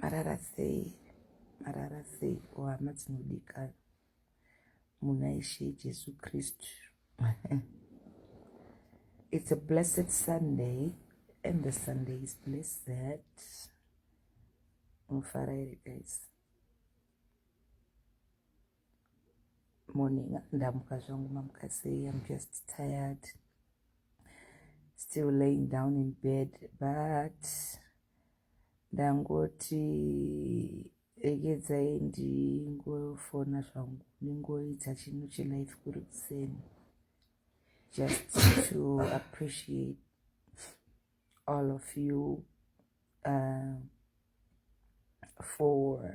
marara sei marara sei o hama dzinodikana muna ishe jesu kristu it's a blessed sunday and the sunday is blessed mufara here guys morning ndamuka zvangu mamuka sei im just tired still laying down in bed but ndangoti regedzai ndingofona zvangu ndingoita chinhu chelife kuri kuseni just to appreciate all of you uh, for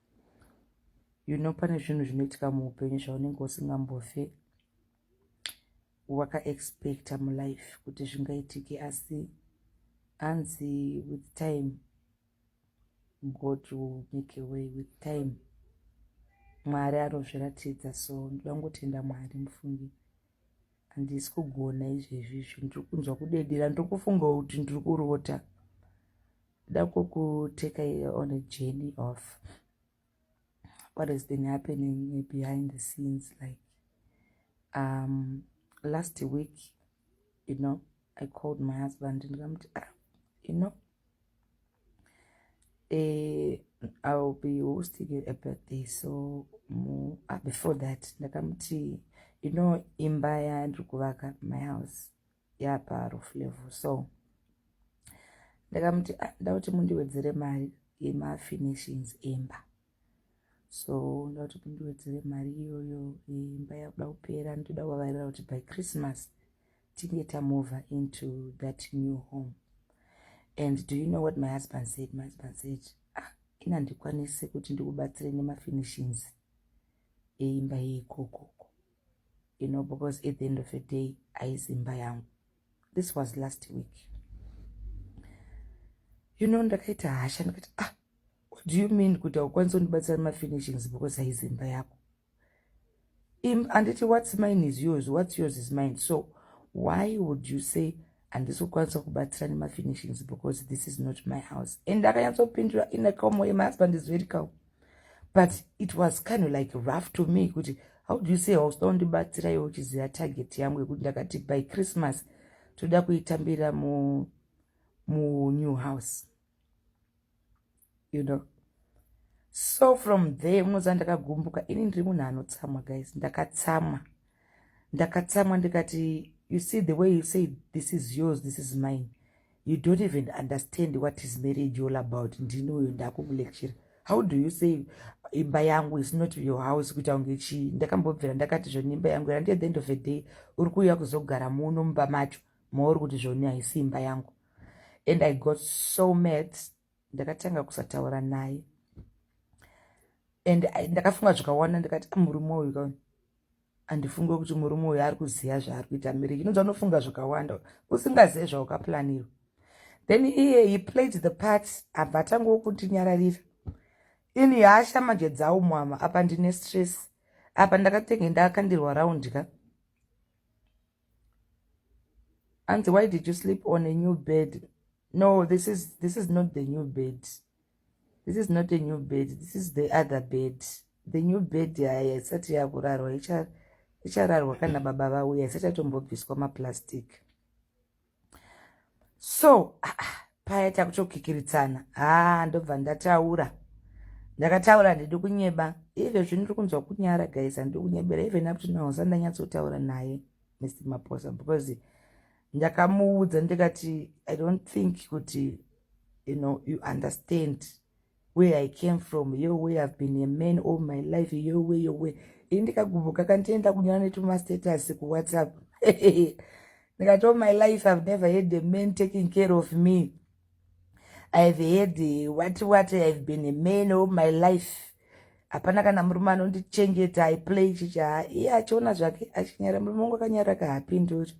you know pane zvinhu zvinoitika muupenyu zvaunenge usingambofe wakaexpecta mulife kuti zvingaitike asi hanzi with time god will make a way with time mwari anozviratidza so ndoda ngotenda mwari mufungi handisi kugona izvezvi izvi ndiri kunzwa kudedera ndiri kufungawo kuti ndiri kurota Kuda kukuteka here on a journey of what has been happening behind the scenes like um last week you know i called my husband and i'm ah, you know eh, i will be hosting a birthday so mu, ah, before that ndakamuti you know imba yandiri kuvaka my house yaparo flavor so ndakamuti ah, ndakuti mundiwedzere mari yemafinishings emba so ndakuti mundiwedzere mari iyoyo imba yakuda kupera nditoda kuvavarira kuti by christmas tinge tamova into that new home and do you know what my husband said my husband said ah ina ndikwanise kuti ndikubatsire nemafinishings eimba yeikokoko you know because at the end of the day aizimba yangu this was last week you know ndakaita hasha ndikati ah what do you mean kuti haukwanisi kundibatsira mafinishings because aizimba yako anditi what's mine is yours what's yours is mine so why would you say handisi kukwanisa kubatsira nemafinishings because this is not my house and akanyatsopindura in a calm way my husband is very calm but it was kind of like rough to me kuti how do you say hausa undibatsira iwe uchiziva target yangu yekuti ndakati by christmas toda kuitambira mu munew house you know so from there unoziva ndakagumbuka ini ndiri munhu anotsamwa guys ndakatsamwa ndakatsamwa ndikati you see the way you say this is yours this is mine you don't even understand what is marriage all about ndini uyo ndakumulecture how do you say imba yangu is not your house kuita kunge chii ndakambobvira ndakati zvoni imba yangu randiye the end of the day uri kuuya kuzogara muno mumba macho mauri kuti zvoni haisi imba yangu and i got so mad ndakatanga kusataura naye and ndakafunga zvakawanda ndikati ah, murume uyu andifunge kuti murume uyo ari kuziva zvaari kuita miri inonzi anofunga zvakawanda usingazive zvaukaplanirwa then iye he played the part abva atangawo kundinyararira ini hasha manje dzawo mwama apa ndine stress apa ndakatenge ndakandirwa round ka anzi why did you sleep on a new bed no this is this is not the new bed this is not a new bed this is the other bed the new bed yaya isati yakurarwa ichararwa kana baba vauya isati yatombobviswa maplastic so ah, ah, paya takutokikiritsana haa ah, ndobva ndataura ndakataura ndidi kunyeba ive zvino ndiri kunzwa kunyara guys handiri kunyebera even up to now sandanyatsotaura naye mr maposa because ndakamuudza ndikati i don't think kuti you know you understand where i came from yo way i've been a man all my life yo way yo way ini ndikagubuka kandienda kunyora netumastatus kuwhatsapp ndikati all my life i've never had a man taking care of me i have had eh, what what i have been a man all my life hapana kana murume anondichengeta iplay chicha iye achiona zvake achinyara murume wangu akanyara kahapinduri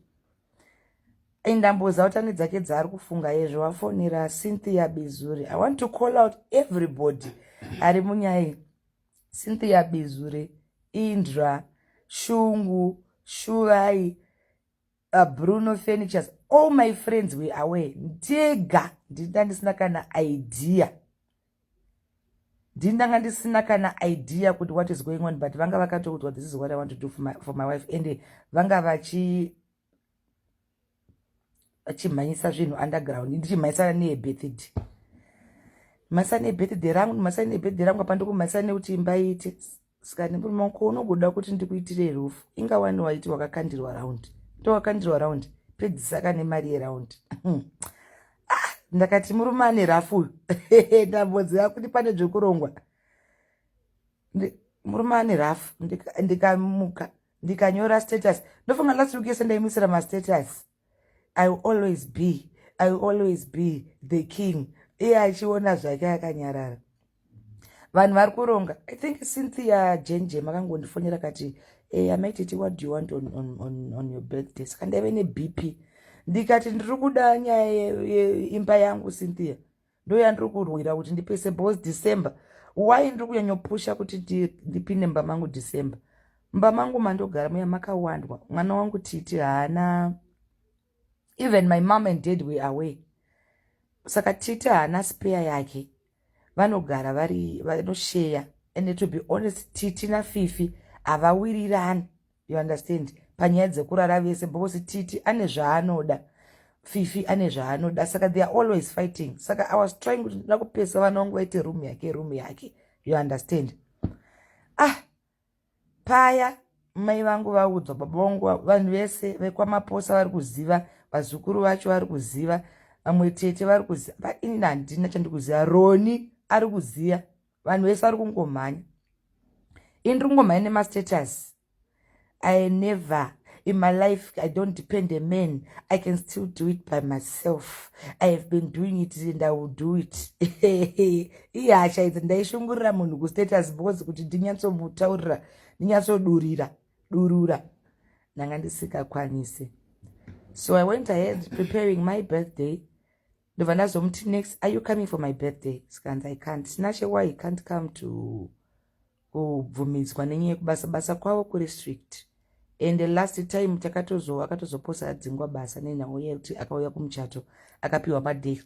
indamboza utane dzake dzaari kufunga yezvo wafonera cynthia bizuri i want to call out everybody ari munyaya cynthia bizuri indra shungu shuvai uh, bruno furnitures all my friends were aware ndega ndinda ndisina kana idea ndindanga ndisina kana idea kuti what is going on but vanga vakatoudzwa this is what i want to do for my, for my wife and vanga vachi vachimhanyisa zvinhu underground ndichimhanyisana neebethid mhanyisa neebethid rangu mhanyisa neebethid rangu apa ndikumhanyisa nekuti imba iite Saka nemuri mako unogoda kuti ndikuitire rufu inga wani waiti wakakandirwa round ndowakandirwa round pedzisaka nemari yeround ah, ndakati murume ane rafu uyu ndamboziva kuti pane zvekurongwa murume ane rafu ndikamuka ndikanyora status ndofunga last week yese ndaimuisira mastatus i will always be i will always be the king iye achiona zvake akanyarara vanhu vari kuronga i think cynthia jenje makangondifonera kati hey, amai titi what do you want on, on, on, on your birthday saka ndaive nebp ndikati ndiri kuda nyaya yeimba yangu cynthia ndoyandiri kurwira kuti ndipese bos december why ndiri kunyanyopusha kuti ndipinde mumba mangu december mumba mangu mandogara muya makawandwa mwana wangu titi haana even my mom and dad were away saka titi haana speya yake vanogara vari vanosheya and to be honest titi nafifi havawirirani you understand panyaya dzekurara vese because titi ane zvaanoda fifi ane zvaanoda saka they are always fighting saka i was trying kuti ndina kupesa vana vangu vaite room yake room yake you understand ah paya mai vangu vaudzwa baba vangu vanhu vese vekwamaposa vari kuziva vazukuru vacho vari kuziva vamwe tete vari kuziva painini handina chandikuziva roni ari kuziva vanhu vese vari kungomhanya ini ri kungomhanya nemastatus i never in my life i don't depend a man i can still do it by myself i have been doing it and i will do it ihasha idzi ndaishungurira munhu kustatus because kuti ndinyatsomutaurira ndinyatsodurira durura ndanga ndisingakwanisi so i went ahead preparing my birthday ndobva ndazomuti next are you coming for my birthday sikanzi i can't sinashe why i can't come to kubvumidzwa nenyaya yekubasa basa kwavo kuri strict and the last time takatozoa akatozoposa adzingwa basa nenhamo yekuti akauya kumuchato akapiwa maday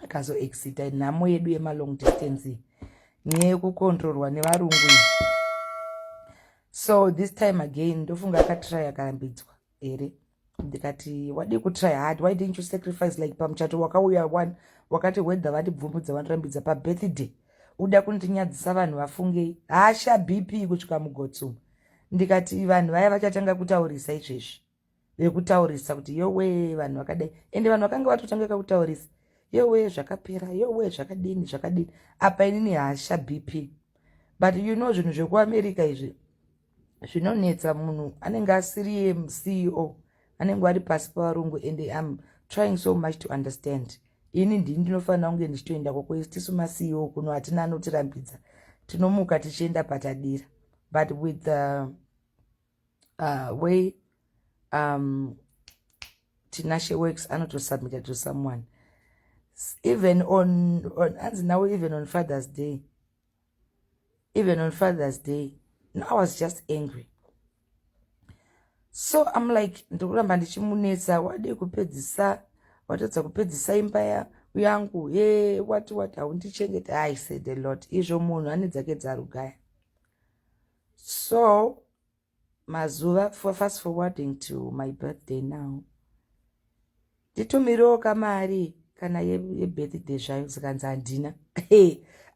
akazoexita nhamo yedu yemalong distance nyaya yekukontrorwa nevarungu so this time again ndofunga akatry akarambidzwa here ndikati wadii kutry hard why didn't you sacrifice like pamuchato wakauya one wakati whether vandibvumudza vandirambidza pabirthday uda kundinyadzisa vanhu vafungei hasha bp kusvika mugotsuma ndikati vanhu vaya vachatanga kutaurisa izvezvi vekutaurisa kuti yowe vanhu vakadai ende vanhu vakanga vatotanga kakutaurisa yowe zvakapera yowe zvakadini zvakadini apa inini hasha bp but you know zvinhu zvekuamerica izvi zvinonetsa munhu anenge asiri yemceo anenge ari pasi pavarungu and am trying so much to understand ini ndini ndinofanira kunge ndichitoenda kwako istisu maceo kuno hatina anotirambidza tinomuka tichienda patadira but with the uh, way um, tinashe works anotosubmita to someone even on, on anzi nawo even on father's day even on father's day no i was just angry so im like ndikuramba ndichimunetsa wade kupedzisa watadza kupedzisa imba ya yangu he wati wati haundichengete i said a lot izvo munhu ane dzake dzarugaya so mazuva for fast forwarding to my birthday now nditumirewo kamari kana yebirthday ye zvayo zikanzi handina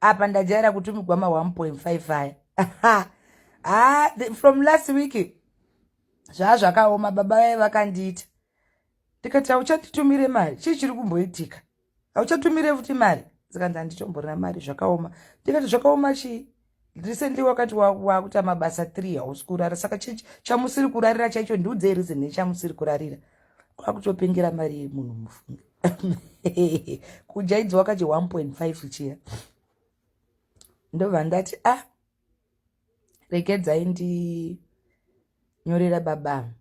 apa ndajaira kutumigwa ma 1.5 aya ah, from last week zvaa zvakaoma baba vaye vakandiita ndikati hauchanditumire mari chii chiri kumboitika hauchatumire futi mari zikanzi handitomborina mari zvakaoma ndikati zvakaoma chii recently wakati wakuita mabasa three hausi kurara saka chii chamusiri kurarira chaicho ndiudzei reason nechamusiri kurarira kwakutopengera mari yemunhu mufunge kujaidzwa kachi 1.5 chiya ndobva ndati ah regedzai ndinyorera baba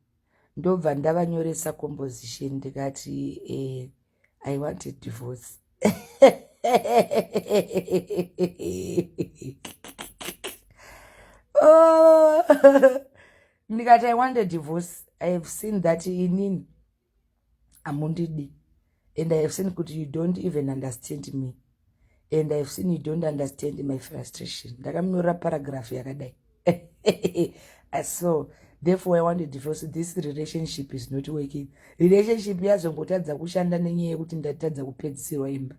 ndobva ndavanyoresa composition ndikati eh, i want a divorce oh, ndikati i want a divorce i have seen that inini amundidi and i have seen kuti you don't even understand me and i have seen you don't understand my frustration ndakamunyorera paragraph yakadai so therefore i want to divorce this relationship is not working relationship yazongotadza kushanda nenyaya yekuti ndatadza kupedzisirwa imba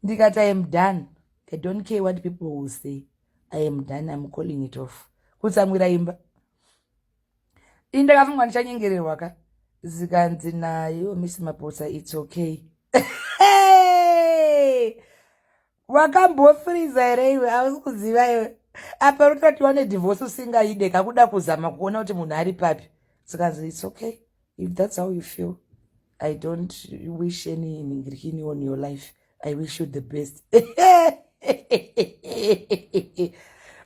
ndikati i am done i don't care what people will say i am done iam calling it off kutsamwira imba ini ndakafunga ndichanyengererwa ka zikanzi nayo miss mapotsa its okay wakambofriza here iwe ausi kuziva iwe apa rutoti wane divorce usingaide kakuda kuzama kuona kuti munhu ari papi zikanzi its okay if that's how you feel i don't wish any ningirikini on your life i wish you the best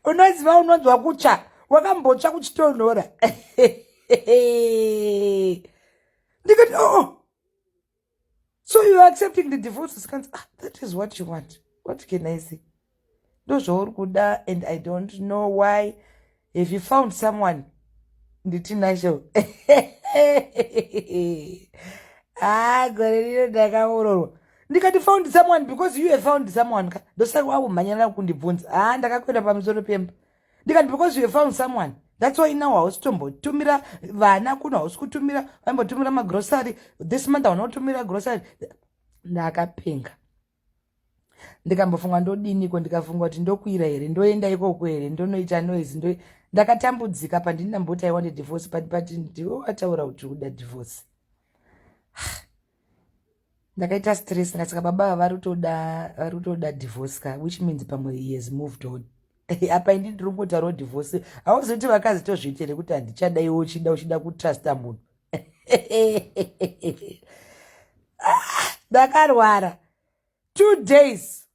unoziva unonzwa kutsva wakambotsva kuchitonhora ndikati oo oh. so you are accepting the divorce sikanzi ah, that is what you want what can i say ndozvauri kuda and i don't know why have you found someone nditi nazvo haa gore rino ndakaororwa ndikati found someone because you have found someone ka ndosaka wakumhanyana kundibvunza haa ndakakwenda pamusoro pemba ndikati because you have found someone that's why now hausi tombotumira vana kuno hausi kutumira vaimbotumira magrocery this month hauna kutumira grocery ndakapenga ndikambofunga ndodiniko ndikafunga kuti ndokuira here ndoenda ikoko here ndonoita noise ndo ndakatambudzika pandini ndamboti i want divorce but but ndiwe wataura kuti uda divorce ndakaita stress ndasaka baba vari kutoda vari kutoda divorce ka which means pamwe he has moved on apa ini ndiri kungotaurawo divorce hauzoti vakazitozviitire kuti handichada iwe uchida uchida kutrusta munhu ndakarwara two days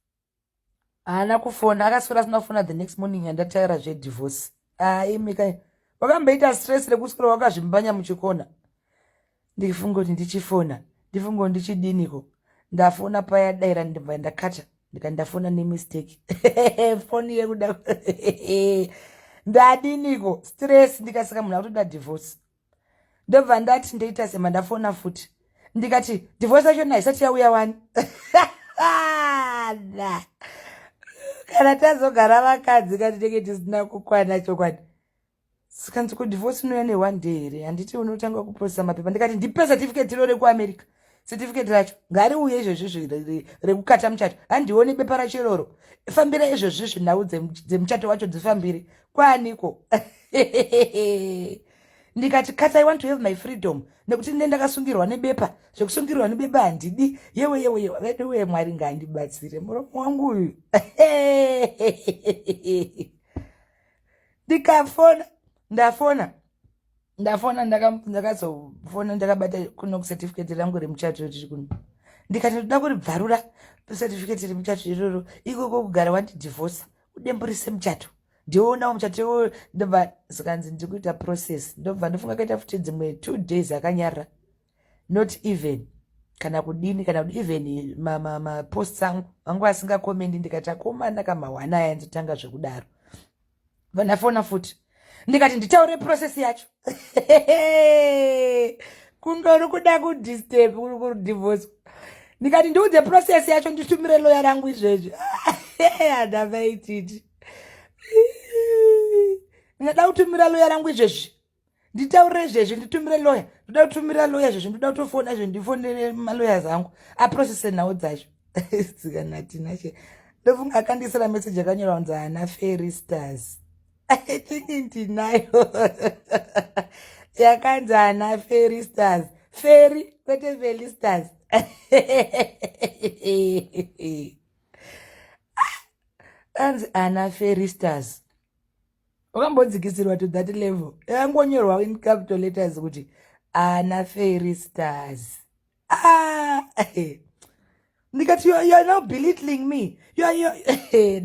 haana kufona akaswera asina kufona the next morning andataira zvedivorce aimika ah, wakamboita stress rekuswera wakazvimbanya muchikona ndifunge kuti ndichifona ndifunge kuti ndichidiniko ndafona paya daira ndibva ndakata ndika ndafona nemistake foni yekuda ndadiniko stress ndikasika munhu akutoda divorce ndobva ndati ndoita sema ndafona futi ndikati divorce yacho naisati yauya wani kana tazogara vakadzi kati tenge tisina kukwana chokwadi sikanzi kudivorce inouya ne one day here handiti unotanga kuprocesa mapepa ndikati ndipe certificate iro rekuamerica certificate racho ngariuye izvezvizvi rekukata muchato handione bepa racho iroro fambira izvezvizvi nhau dzemuchato wacho dzifambire kwaaniko ndikati kata i want to have my freedom nekuti ndine ndakasungirwa nebepa zvekusungirwa nebepa handidi yewe yewe yewe veduwe mwari ngaandibatsire muromo wangu uyu ndikafona ndafona ndafona ndakazofona ndakabata kuno certificate rangu remuchato riri kuno ndikati ndoda kuribvarura certificate remuchato iroro ikoko kugara wandidivorsa udemburise muchato ndionawo muchato iwoyo ndobva zikanzi ndiri kuita process ndobva ndofunga kaita futi dzimwe two days akanyarira not even kana kudini kana kuti even maposts angu angu asingakomendi ndikati akomana kamahwana aya nditanga zvekudaro vandafona futi ndikati nditaure process yacho kundori kuda kudisturb kuri kudivorce ndikati ndiudze process yacho nditumire loya rangu izvezvi hada vaititi ndingada kutumira loya rangu izvezvi nditaurire izvezvi nditumire loya ndoda kutumira loya izvezvi ndoda kutofona izvezvi ndifonere maloya zangu aprocese nhau dzacho dzikanatinashe ndofunga akandiisira meseji akanyora kunzi ana fairy stars ithinki ndinayo yakanzi ana fairy stars fairy kwete fairy stars anzi ana fairy stars wakambodzikisirwa to that level yangonyorwa in capital letters kuti ana fairy stars ah, eh. ndikati you are now belittling me eh,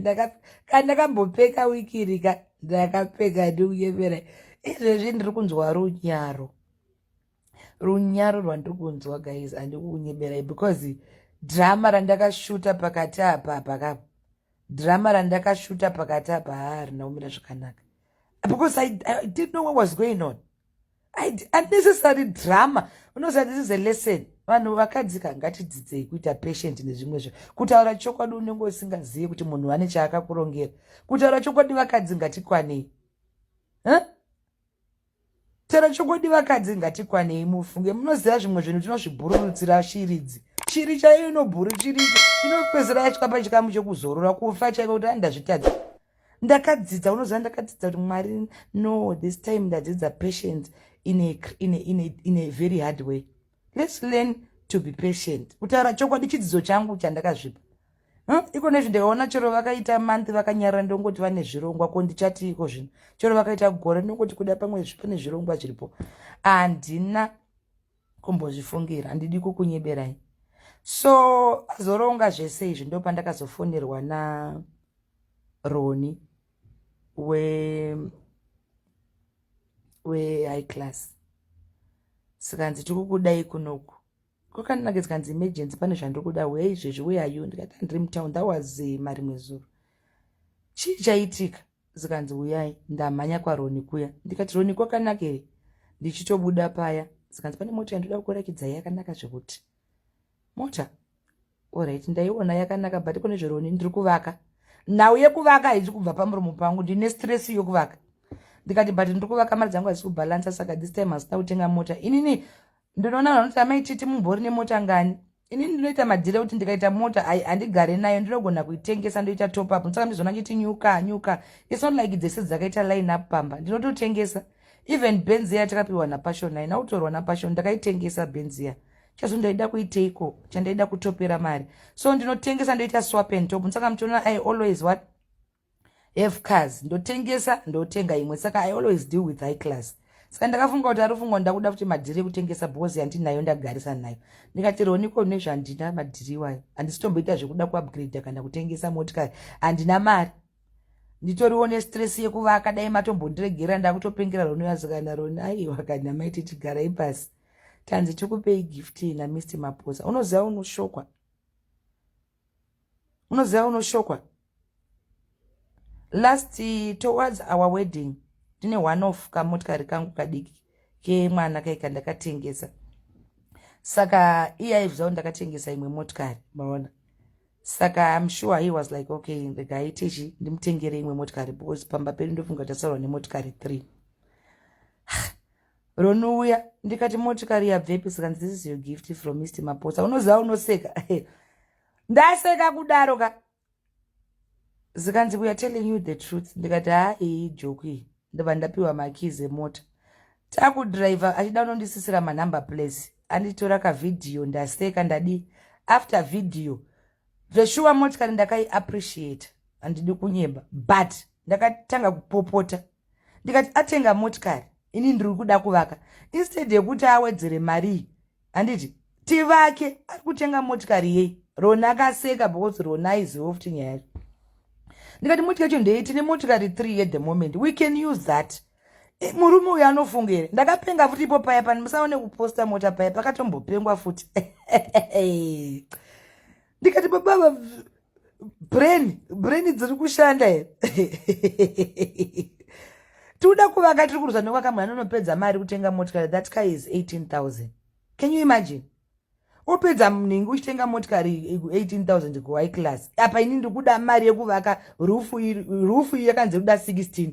ndakambopeka wikirika ndakapfeka ndikuyemera izvezvi ndiri kunzwa runyaro runyaro rwandiri kunzwa guys handiri kunyeberai because drama randakashuta pakati apa paka drama randakashuta pakati apa haa rina kumira zvakanaka because I, I didn't know what was going on unnecessary drama unoziva this is a lesson vanhu vakadzika ngatidzidzei kuita patient nezvimwe zvo kutaura chokwadi unenge usingazivi kuti munhu vane chaakakurongera kutaura chokwadi vakadzi ngatikwanei huh? Tero chokwadi vakadzi ngatikwanei mufunge munoziva zvimwe zvinhu tinozvibhururutsira shiridzi shiri chaiyo inobhuru shiri inopedzera yasvika pachikamu chekuzorora kufa chaiko kuti ani ndazvitadza ndakadzidza unoziva ndakadzidza kuti mwari no this time ndadzidza patient in a, in a, in a, in a very hard way let's learn to be patient kutaura chokwadi chidzidzo changu chandakazvipa Huh? iko nezvi ndikaona chero vakaita month vakanyarara ndongoti vane zvirongwa ko ndichati iko zvino chero vakaita gore ndongoti kuda pamwe pane zvirongwa zviripo handina kumbozvifungira handidi kukunyeberai so azoronga zvese izvi ndo pandakazofonerwa na roni we we high class sikanzi tikukudai kunoku kwakandinaka zikanzi emergency pane zvandiri kuda huya izvezvi where are you ndikati handiri mutown that was eh, marimwe zuro chii chaitika zikanzi huyai ndamhanya kwaroni kuya ndikati roni kwakanaka here ndichitobuda paya zikanzi pane mota yandoda kukurakidza yakanaka zvekuti mota Alright, ndaiona yakanaka but kune zveroni ndiri kuvaka. Nhau yekuvaka haizi kubva pamuromo pangu, ndine stress yekuvaka. Ndikati but ndiri kuvaka mari dzangu hadziku balance saka this time hasina kutenga mota. Inini ndinoona vanhu vanoti amai titi mumbori nemota ngani? Inini ndinoita madhira kuti ndikaita mota handigare nayo ndinogona kuitengesa ndoita top up. Saka ndizoona chiti nyuka nyuka. It's not like dzese dzakaita line up pamba. Ndinototengesa. Even Benzia takapiwa na Passion nayo, nautorwa na Passion ndakaitengesa Benzia. chazvo ndaida kuiteiko chandaida kutopera mari so ndinotengesa ndoita swap and top saka muchiona i always what have cars ndotengesa ndotenga imwe saka i always deal with high class saka ndakafunga kuti ari fungwa ndakuda kuti madhiri ekutengesa bhozi yandinayo ndagarisa nayo ndikati roniko nezvandina madhiri iwayo handisitomboita zvekuda kuupgrade kana kutengesa motikari handina mari nditoriwo nestress yekuvaka dai matombondiregera ndakutopengera roni yazikana roni aiwa kana maiti tigarai pasi tanzi tikupei gift na mr maposa unoziva unoshokwa unoziva unoshokwa last towards our wedding ndine one of kamotikari kangu kadiki kemwana kaika ndakatengesa saka iye aizvizawo ndakatengesa imwe motikari maona saka im sure he was like okay regai tichi ndimutengere imwe motikari because pamba pedu ndofunga tasaurwa nemotikari three ronouya ndikati motikari yabvepi zikanzi this is your gift from mr mapotsa unoziva unoseka ndaseka kudaro ka zikanzi weare telling you the truth ndikati haa iyi joku iyi ndobva ndapiwa makeys emota takudriver achida unondisisira manumber place anditora kavhidhiyo ndaseka ndadii after video zveshuwa motikari ndakaiappreciate handidi kunyeba but ndakatanga kupopota ndikati atenga motikari ini ndiri kuda kuvaka instead yekuti awedzere marii handiti tivake ari kutenga motikari yei rona akaseka because rona aiziva futi nyaya yacho ndikati motika yacho ndei tine motikari three at the moment we can use that e, murume uyo anofunga here ndakapenga futi ipo paya pani musaone kuposta mota paya pakatombopengwa futi ndikati bababa brain brain dziri kushanda here tikuda kuvaka tiri kuruzwa nekwakamwana anonopedza mari kutenga motikari that car is 18000 can you imagine opedza mningi uchitenga motikari 18000 kuhigh class apa ini ndikuda mari yekuvaka rufu iyi yakanzi kuda 16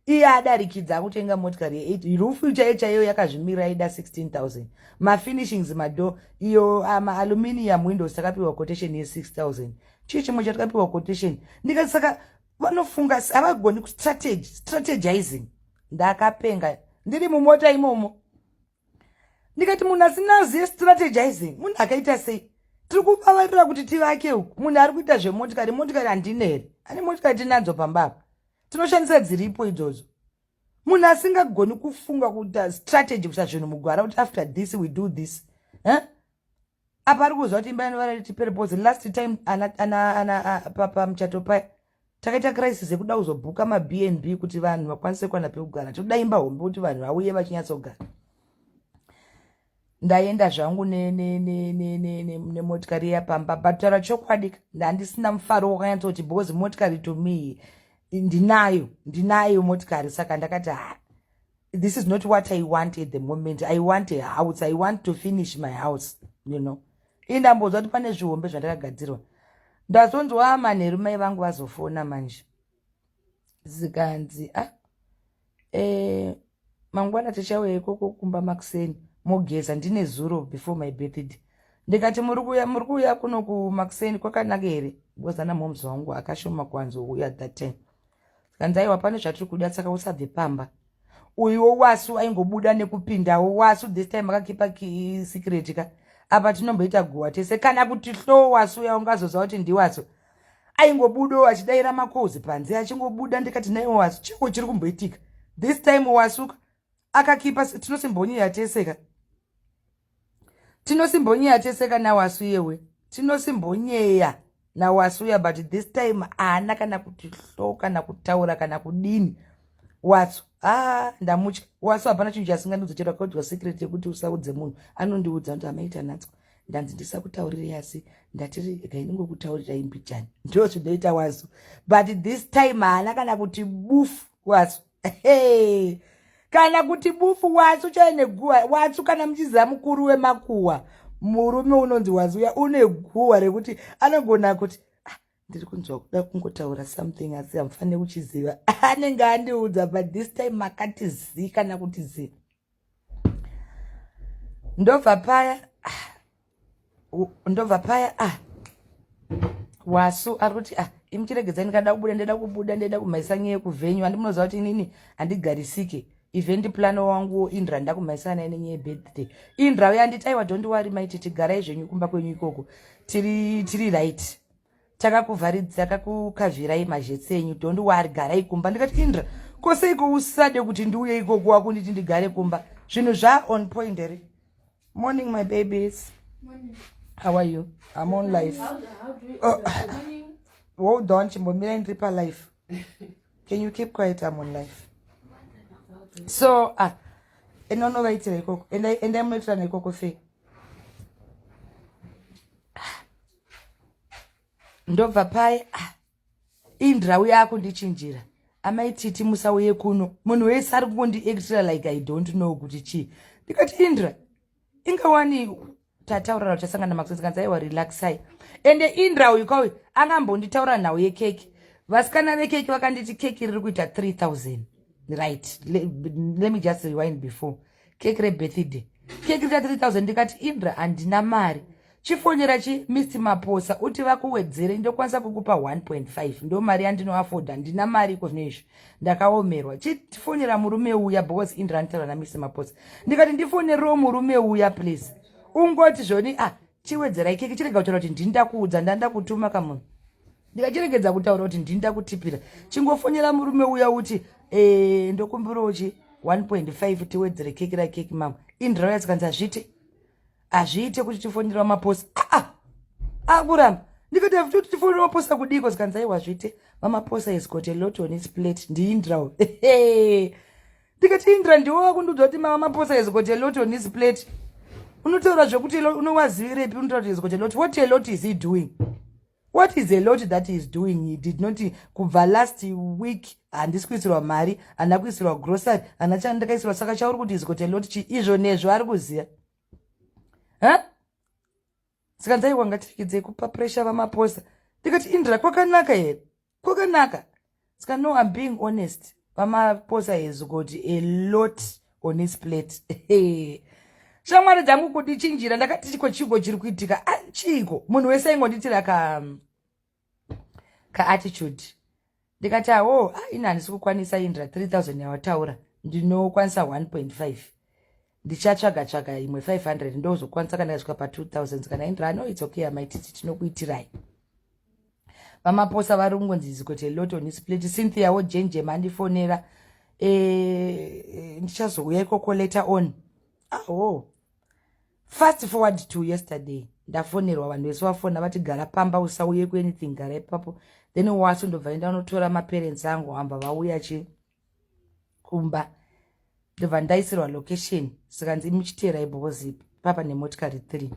iye adarikidza akutenga motikari ye8 irufu chaiyo chaiyo yakazvimirira ida 16000 mafinishings mado iyo ah, maaluminium windows takapiwa quotation ye6000 chii chimwe chatakapiwa quotation ndikati saka vanofunga havagoni kustrategy strategizing ndakapenga ndiri mumota imomo ndikati munhu asina ziye strategizing munhu akaita sei tiri kuvavarira kuti tivake uku munhu ari kuita zvemotikari motikari handine here ane motikari tinadzo pamba apa tinoshandisa dziripo idzodzo munhu asingagoni kufunga kuita strategy kuita zvinhu mugwara kuti after this we do this eh? apa ari kuziva kuti imba yanovara riti perpose last time ana, ana, ana, ana papa muchato paya Takaita crisis yekuda kuzobhuka maBnb kuti vanhu vakwanise kuwana pekugara. Tinoda imba hombe kuti vanhu vauye vachinyatsogara. Ndaenda zvangu nemotikari iya pamba but taura chokwadi handisina mufaro wakanyatsoti because motikari to me ndinayo ndinayo motikari saka ndakati ha this is not what i want at the moment i want a house i want to finish my house you know ii ndambonzwa kuti pane zvihombe zvandakagadzirwa ndazonzwa ah, manheru mai vangu vazofona manje zikanzi a ah, eh, mangwana tichauya ikoko kumba makuseni mogeza ndine zuro before my birthday ndikati muri kuuya muri kuuya kuno kumakuseni kwakanaka here because ana momzi wangu akashoma kwanzi uya that time zvikanzi aiwa pane zvatiri kuda saka usabve pamba uyuwo wasu aingobuda nekupindawo wasu this time akakipa secret ka apa tinomboita guwa tese kana kuti hlo wasu uya ungazoziva kuti ndiwasu aingobudawo achidaira makozi panze achingobuda ndikati naiwo wasu chiko chiri kumboitika this time wasuka akakipa tinosimbonyira tese ka tinosimbonyeya teseka nawasu yewe tinosimbonyeya nawasu ya but this time haana kana kuti hlo kana kutaura kana kudini wasu ah ndamutya wasu hapana chinhu chasingandiudza chero akaudya secret yekuti usaudze munhu anondiudza kuti amaita natswa ndanzi ndisakutaurirei asi ndatiri gainingokutaurirai mbijani ndo zvinoita wasu but this time haana kana kuti bufu wasu hey. kana kuti bufu watsu chaine guwa watsu kana muchiziva mukuru wemakuwa murume unonzi wazuya une guwa rekuti anogona kuti ah, ndiri kunzwa kuda kungotaura something asi hamufanire kuchiziva anenge andiudza but this time makati zii kana kuti zii ndobva paya ah, ndobva paya ah wasu ari kuti ah imi chiregedzai ndikada kubuda ndaida kubuda ndaida kumhaisa nyaya yekuvhenyu handi munoziva kuti inini handigarisike event plan wanguwo indra ndakumhaisa naye nenyaya yebirthday indra uye anditi aiwa don't wari maititi garai zvenyu kumba kwenyu ikoko tiri tiri right takakuvharidzakakukavhirai mazhetse enyu don't wari garai kumba ndikati indra ko seiko usade kuti ndiuye ikoko wakunditi ndigare kumba zvinhu zva on point here morning my babies morning. how are you i'm on life how, how do you, oh. hold on chimbomirai ndiri palife can you keep quiet i'm on life so ah enda unovaitira ikoko endai munoitirana ikoko fei ndobva paye ah, indrau yako ndichinjira amai titi musauye kuno munhu wese ari kungondiactira like i don't know kuti chii ndikati indra ingawani tataurana uchasangana makusasikanza aiwa relaxai ende indra uyu kauyu anga ambonditaura nhau yekeki vasikana vekeki vakanditi keki riri kuita 3000 right let me just rewind before keki rebirthday keki rika 3000 ndikati indra handina mari chifonera chi mr maposa uti vakuwedzere ndokwanisa kukupa 1.5 ndo mari yandinoafoda handina mari iko zvino izvi ndakaomerwa chifonera murume uya because indra anitaura namr maposa ndikati ndifonerewo murume uya please ungoti zvoni ah chiwedzerai keki chirega kutaura kuti ndini ndakuudza ndanda kutuma kamunhu ndikachiregedza kutaura kuti ndini ndakutipira chingofonera murume uya uti e, ndokumbirawo chi 1.5 tiwedzere keki rakeki mamwe indrauya zikanzi hazviite hazviite kuti tifonerwa maposa aa ah, ah, akuramba ah, ndikati hafuti kuti tifonerwa maposa kudiko zikanzi aiwa hazviite mamaposa is got a lot on its plate ndiindrau ndikati indra ndiwo wakundiudza kuti mamaposa is got a lot on its plate unotaura zvekuti unowazivirepi unotaura kuti is got a lot what a lot is he doing what is a lot that is doing he did not kubva last week handisi kuisirwa mari handina kuisirwa grocery handina chani ndakaisirwa saka chauri kuti izikoti a lot chi izvo nezvo ari kuziva ha saka ndaiwa ngatiregedzei kupa pressure vamaposa ndikati indira kwakanaka here kwakanaka ska no im being honest vamaposa has got a lot on his plate shamwari dzangu kuti chinjira ndakati chiko chiiko chiri kuitika ah, chiiko munhu wese aingonditira ka um, kaattitude ndikati awo ah, ini handisi kukwanisa indra 3000 yawataura ndinokwanisa 1.5 ndichatsvaga tsvaga imwe 500 ndozokwanisa kana yasvika pa 2000 kana indra ano it's okay amaititi tinokuitirai vamaposa vari kungonzi zikote loto ni split cynthia wo jenje mandifonera e, e, ndichazouya ikoko later on aho fast forward to yesterday ndafonerwa vanhu vese vafona vati gara pamba usauye kuanything gara ipapo then wasundobva enda unotora maparents angu hamba vauya chii kumba ndobva ndaisirwa location zvikanzi imuchiteerai because papa nemotikari three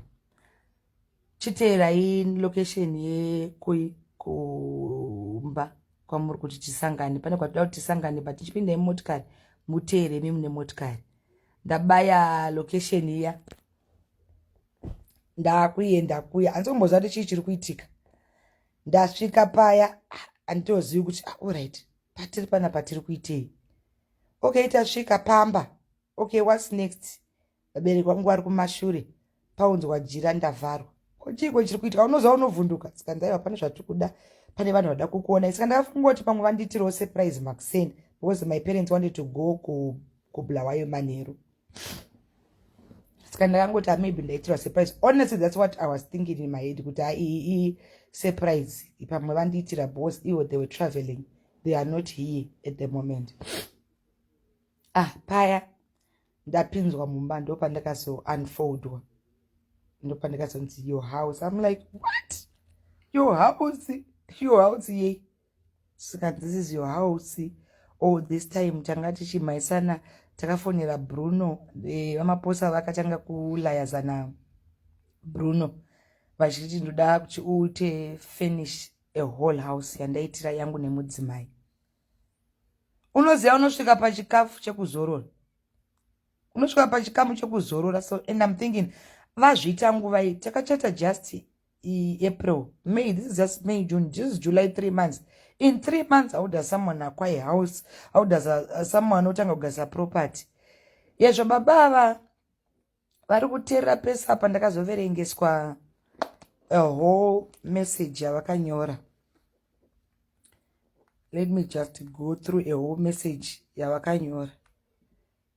chiteerai location yekui kumba kwamuri kuti tisangane pane kwatida kuti tisangane but tichipinda imotikari muteere imi mune motikari ndabaya location iya ndakuenda kuya handisi kumboziva kuti chii chiri kuitika ndasvika paya handitozivi kuti ah, allright patiri pana patiri kuitei okay tasvika pamba okay whats next vabereki vangu vari kumashure paunzwa jira ndavharwa kochiiko chiri kuitika unoziva unovhunduka saka ndaiva pane zvatiri kuda pane vanhu vada kukuona saka ndakafunga kuti pamwe vandiitirawo surprise makuseni because my parents wanted to go kubulawayo manheru saka ndakangoti maybe ndaitirwa surprise honestly that's what i was thinking in my head kuti aii surprise pamwe vandiitira bos ivo they were traveling they are not here at the moment ah paya ndapinzwa mumba ndopandakazounfoldwa ndopandakazonzi your house im like what your house your house yei saka this is your house all this time tanga tichimhaisana takafonera bruno eh, vamaposa vakatanga kulayazana bruno vachiti ndoda kuti uite finish a whole house yandaitira yangu nemudzimai unoziva unosvika pachikafu chekuzorora unosvika pachikamu chekuzorora so and im thinking vazviita nguvai takachata just April, May, this is just May, June, this is July, three months. In three months, how does someone acquire a house? How does a, a, someone otanga kugasa property? Yezvo baba ava vari kuterera pese apa ndakazoverengeswa a whole message yavakanyora. Let me just go through a whole message yavakanyora.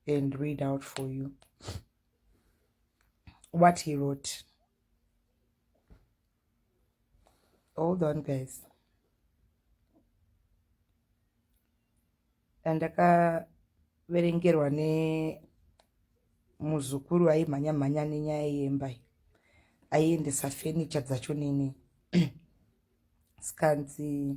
and read out for you what he wrote. Hold on, guys. ndakaverengerwa nemuzukuru aimhanya mhanya nenyaya yemba aiendesa fenicha dzacho nini skanzi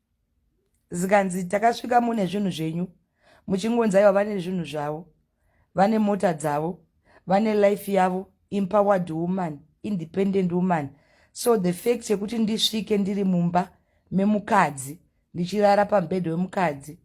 zikanzi takasvika mune zvinhu zvenyu muchingonzi aiwa vane zvinhu zvavo vane mota dzavo vane life yavo empowered woman independent woman so the fact yekuti ndisvike ndiri mumba memukadzi ndichirara pamubhedha wemukadzi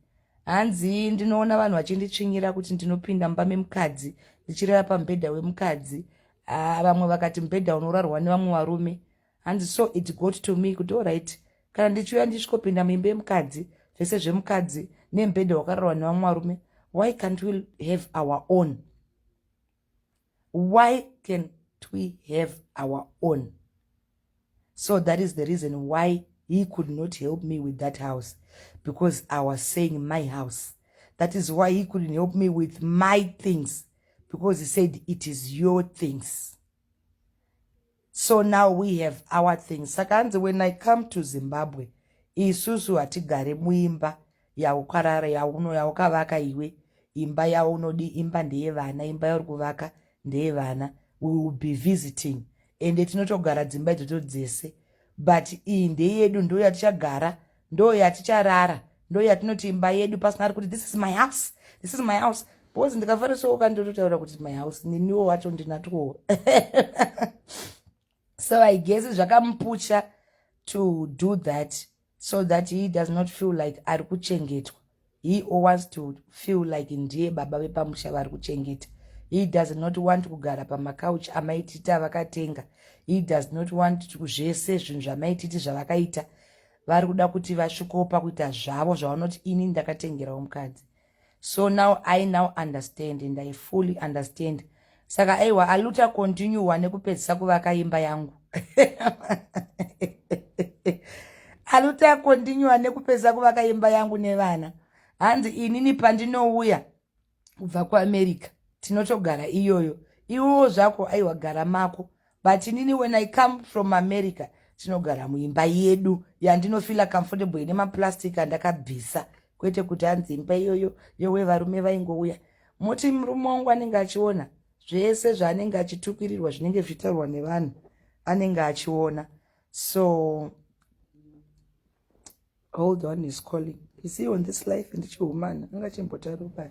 hanzi ndinoona vanhu vachinditsvinyira kuti ndinopinda mumba memukadzi ndichirara pamubhedha wemukadzi ah, vamwe vakati mubhedha unorarwa nevamwe varume hanzi so it got to me kuti orit kana ndichiuya ndichisvikopinda muimba yemukadzi zvese zvemukadzi nemubhedha wakararwa nevamwe varume why can't we have our own why can't we have our own so that is the reason why he could not help me with that house because i was saying my house that is why he couldn't help me with my things because he said it is your things so now we have our thing saka hanzi when i come to zimbabwe isusu hatigare muimba yaukarara yauno yaukavaka iwe imba yaunodi imba ndeyevana imba yauri kuvaka ndeyevana we will be visiting ende tinotogara dzimba idzodzo dzese but iyi ndeyedu ndoyatichagara ndo yaticharara ndo yatinoti imba yedu pasina ari kuti this is my house this is my house bcause ndikafarisooka ndototaura kuti my house niniwo wacho ndinatwowo so i guess zvakamupucha to do that so that he does not feel like ari kuchengetwa He wants to feel like ndiye baba vepamusha vari kuchengeta. He does not want kugara pamakauchi amaititi avakatenga. He does not want zvese zvinhu zvamaititi zvavakaita. Vari kuda kuti vasvikopa kuita zvavo zvavanoti ini ndakatengerawo mukadzi. So now I now understand and I fully understand saka aiwa aluta continue wane kupedzisa kuvaka imba yangu aluta continue wane kupedzisa kuvaka imba yangu nevana hanzi inini pandinouya kubva kuamerica tinotogara iyoyo iwowo zvako aiwa gara mako but inini when i come from america tinogara muimba yedu yandinofila comfortable ine maplastic andakabvisa kwete kuti hanzi imba iyoyo yowe varume vaingouya moti murume wangu anenge achiona zvese zvaanenge achitukirirwa zvinenge zvichitaurwa nevanhu anenge achiona so hold on is calling is he on this life ndichihumana anga chimbotaruka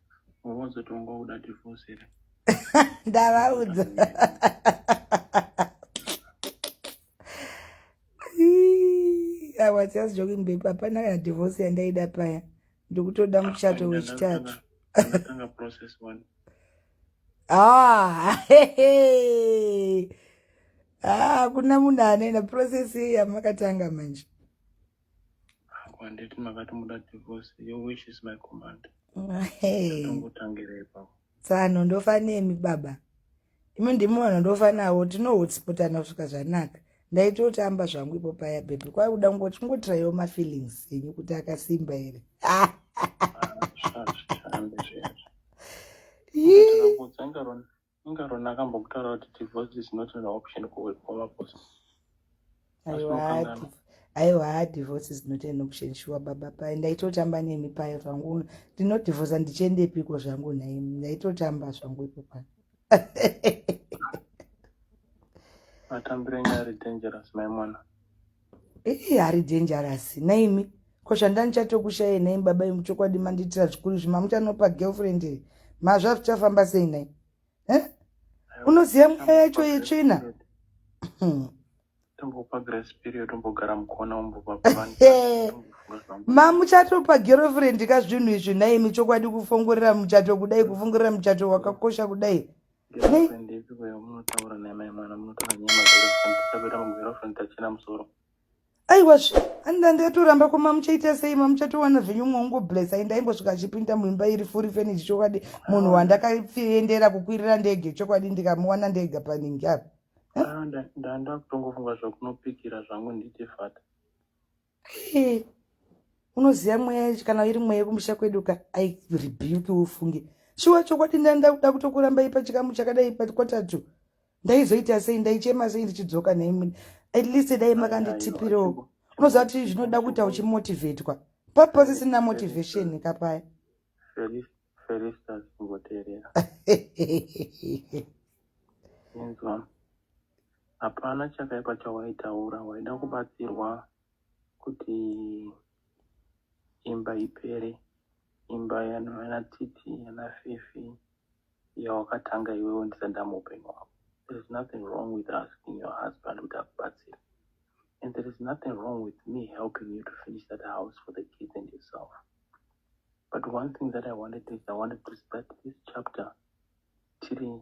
wawazotongwa kuda divorce here ndavaudza i was just joking babe hapana kana divorce yandaida paya ndikutoda muchato wechitatu ah, ah, kuna munhu anoenda process yamakatanga manje Handiti makati muda divorce, your wish is my command. Hey. Ndongotangire ipapo. Tsano ndofa nemi baba. Imi ndimi vanhu ndofa navo tinohotspotana kusvika zvanaka. Ndaitotamba zvangu ipo paya baby. Kwai kuda kungoti kungotiraiwo mafeelings enyu kuti akasimba here. Ah. Shame, shame, shame. Yee. Ndakakutsenga rona. Inga Rona akambokutaura kuti divorce is not an option kuwekoma boss. Aiwa, divorce is not an option shuwa baba paye ndaitotamba nemi paye zvangu ndinodivorsa ndichiendepiko zvangu nhai ndaitotamba zvangu ipo pano atambire nyari dangerous maimwana Ii ari dangerous naimi ko zvandani chatokushayai nai baba imu chokwadi mandiitira zvikuru izvi mamuchanopa girlfriend iri mazva zvichafamba sei nai e unoziva mweya yacho yetsvina mamuchatopa girlfriend ka zvinhu izvi naimi chokwadi kufongorera muchato kudai kufongorera muchato wakakosha kudai aiwa anida ndatoramba koma muchaita sei mamuchatowana zvenyu mwaungo bless ai ndaimbosvika achipinda muimba iri furi feniji chokwadi munhu wandakaendera kukwirira ndege chokwadi ndikamuwana ndega paningi apa ndandakutongofunga zvakunopikira zvangu nditi fata Hey, unoziva mweya yacho kana iri mweya yekumusha kwedu ka i rebuke ufunge shuwa chokwadi ndaenda kuda kutokuramba ipa chikamu chakadai pakwatatu ndaizoita sei ndaichema sei ndichidzoka nhaimwene at least dai makanditipirawo unoziva kuti zvinoda kuita uchimotivetwa papa sisina motivation kapaya Hapana chakaipa chawaitaura, waida kubatsirwa kuti imba ipere, imba yana Titi yana Fifi yawakatanga iwewe ndisati ndamuupenyu hwako. There is nothing wrong with asking your husband kuti akubatsire and there is nothing wrong with me helping you to finish that house for the kids and yourself. But one thing that I wanted is I wanted to start this chapter tiri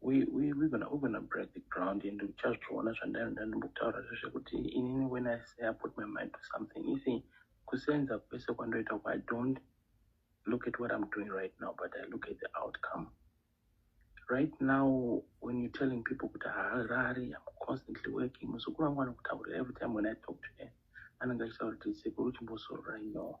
we, we, we're gonna, we're gonna break the ground and uchazviona zvandaenda ndimbotaura zvekuti inini when i say i put my mind to something isi kusenza kwese kwandoita kwa don't look at what i'm doing right now but i look at the outcome right now when you're telling people kuti harari i'm constantly working muzukuru wangu anokutaurira every time when i talk to her anenge achitaura kuti sekuru chimbosororai no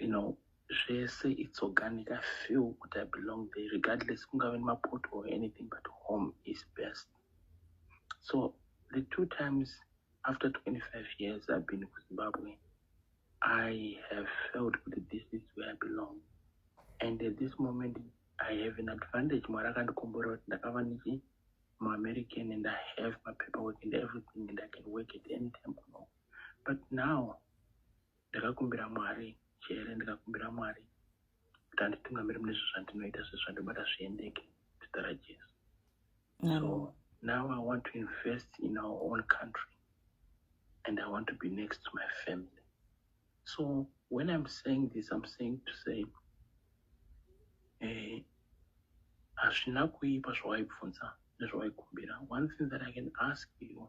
you know zvese it's organic i feel kuti i belong there regardless kungave nemapoto or anything but home is best so the two times after 25 years i've been ku zimbabwe i have felt kuti this is where i belong and at this moment i have an advantage mwari akandikomborera kuti ndakava ndichi muamerican and i have mapaper work and everything and i can work at any time kuno but now ndakakumbira mwari chete ndikakumbira mwari kuti anditungamiri mune zvo zvandinoita zve zvandibata zviendeke zita rajesu so now i want to invest in our own country and i want to be next to my family so when i'm saying this i'm saying to say eh, hazvina kuipa zvawaibvunza nezvawaikumbira one thing that i can ask you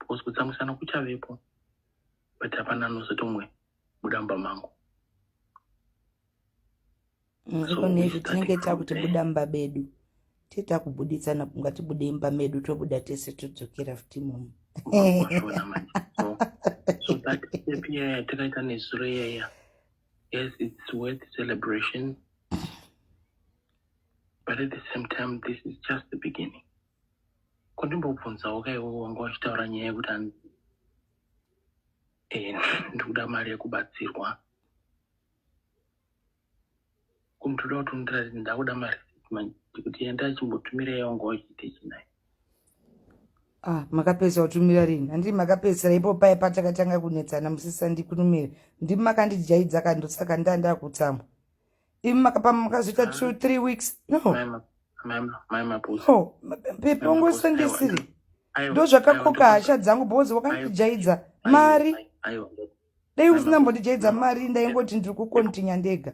because kutsamwisana kuchavepo but hapana anozoti umwe buda mumba mangu nekuneizvi tinenge takuti buda mumba bedu tee takubuditsana kunga tibude imba medu tobuda tese todzokera futi mumu takaita nezuro iyaya yes it's worth celebration but at the same time this is just the beginning kondimbobvunzawo ka iwe wanga uchitaura nyaya yekuti ani e, eh, ndikuda mari yekubatsirwa kumtoda kuti undiratidze ndakuda mari ndikuti enda chimbotumira iye wanga uchiite chinai Ah, makapedza kutumira rini handiri makapedzisira ipo paye patakatanga kunetsana musisa ndikunumire ndimi makandijaidza kandosaka ndandakutsamwa Even makapa makazoita two three weeks no no pepe ungosandisiri ndo zvakakoka hasha dzangu because wakandijaidza mari dai usina mbondijaidza mari ndaingoti ndiri kukontinya ndega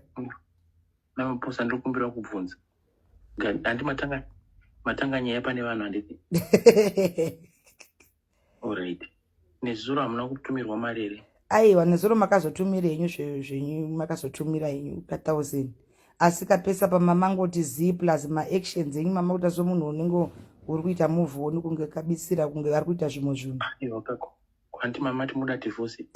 mamaposa ndiri kumbira kubvunza handi matanga nyaya pane vanhu handiti Alright. Nezuro hamuna kutumirwa mari here? Aiwa, nezuro makazotumira henyu zvenyu makazotumira henyu ka thousand. Asi kapesa pamamangoti zii plus maactions enyu mama kuita somunhu unenge uri kuita move on kunge kabisira kunge vari kuita zvimwe zvinhu. Aiwa kako. Kwanti mama timoda divorce.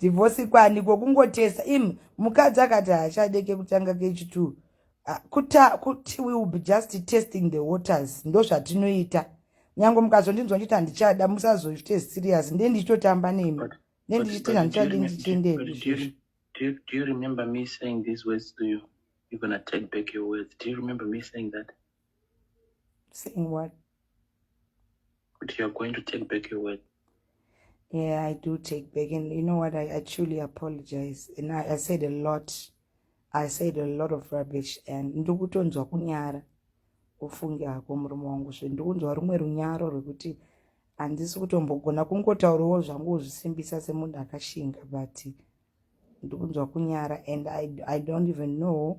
Divorce kwani kokungotesa im mukadzi akati haachadeke kutanga kechi 2 Ah, kuta kuti we will be just testing the waters ndozvatinoita nyange mukazondinzwa ndichiti handichada musazoite serious nde ndichitotamba nemi ne ndichiti handichadi ndichiendei Saying what? But you're going to take back your word. Yeah, I do take back. And you know what? I actually apologize. And I, I said a lot. I said a lot of rubbish. And ndikutonzwa kunyara. ufunge hako murume wangu zve ndikunzwa rumwe runyaro rwekuti handisi kutombogona kungotaurawo zvangu uzvisimbisa semunhu akashinga but ndikunzwa kunyara and I, i don't even know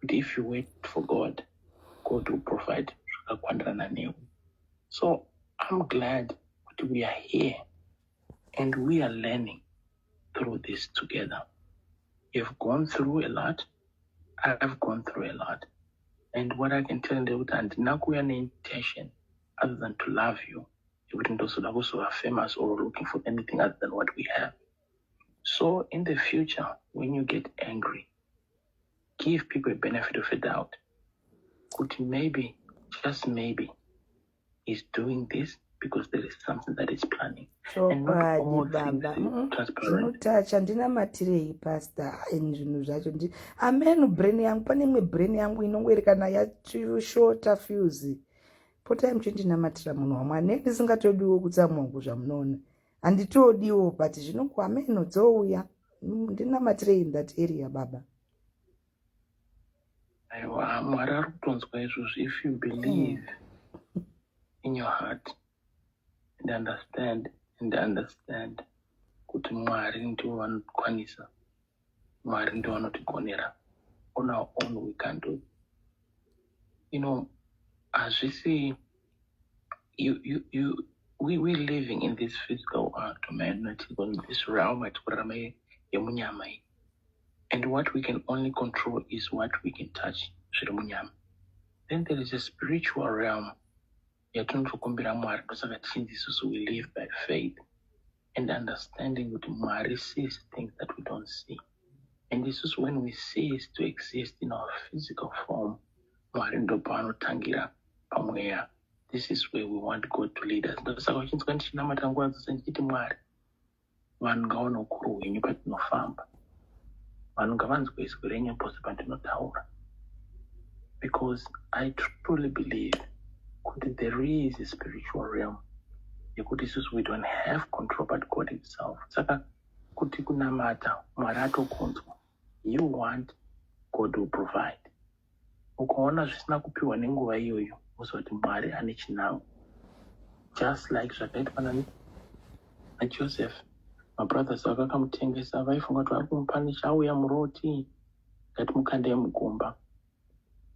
kuti if you wait for god god will provide zvakakwanirana newe so i'm glad kuti we are here and we are learning through this together you've gone through a lot i've gone through a lot and what i can tell ndekuti handina kuuya neintention other than to love you yekuti ndozoda kuzova famous or looking for anything other than what we have So in the future when you get angry give people a benefit of a doubt kuti maybe just maybe he's doing this because there is something that is planning zvinotouch andinamatirei pastor in zvinhu zvacho ndi amen brain yangu pane imwe brain yangu inongoerekana yashota fuse potai muchindinamatira munhu wamwari ne ndisingatodiwo kutsamwa kuzvamunoona handitodiwo but zvinoku hameno dzouya ndinamatirei in that area baba aiwa mwari ari kutonzwa izvozvi if you believe mm. in your heart and understand and understand kuti mwari ndivo vanokwanisa mwari ndovanotigonera on our own we can do you know hazvisi you, you, you, we, we living in this physical world man in this realm atikurarama yemunyama iyi and what we can only control is what we can touch zviri munyama then there is a spiritual realm yatinotokumbira mwari ndosaka tichinzi isusu we live by faith and understanding kuti mwari sees things that we don't see and isusu when we cease to exist in our physical form mwari ndopavanotangira pamweya this is where we want god to lead us ndosaka uchinzwa ndichinamata nguva dzose ndichiti mwari vanhu ngavaone ukuru hwenyu patinofamba vanhu ngavanzwe izwi renyu pose pandinotaura because i truly believe kuti there is a spiritual realm yekuti isusu we don't have control but god himself saka kuti kunamata mwari atokunzwa you want god will provide ukaona zvisina kupiwa nenguva iyoyo uziva kuti mwari ane chinango just like zvakaitwa najoseph mabrothers avo vakamutengesa vaifunga kuti vari kumupa nechauya muroti ngati mukandei mugomba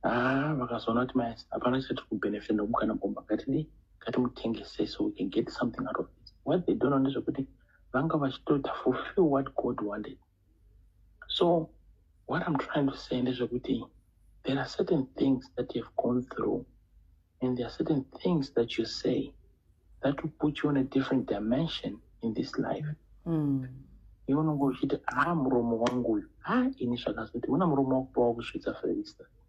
haa vakazoona kuti mai hapana chatiri kubenefit nekukana gomba ngatidii ngatimutengese so we can get something out of it what they don't know ndezvekuti vanga vachitoita fulfill what god wanted so what im trying to say ndezvekuti there are certain things that youhave gone through and there are certain things that you say that will put you on a different dimension in this life mm. iwe unonge uchiti haa muromo wangu uyu haa ini zvakazoti una muromo wakupa wakusvitsa ferista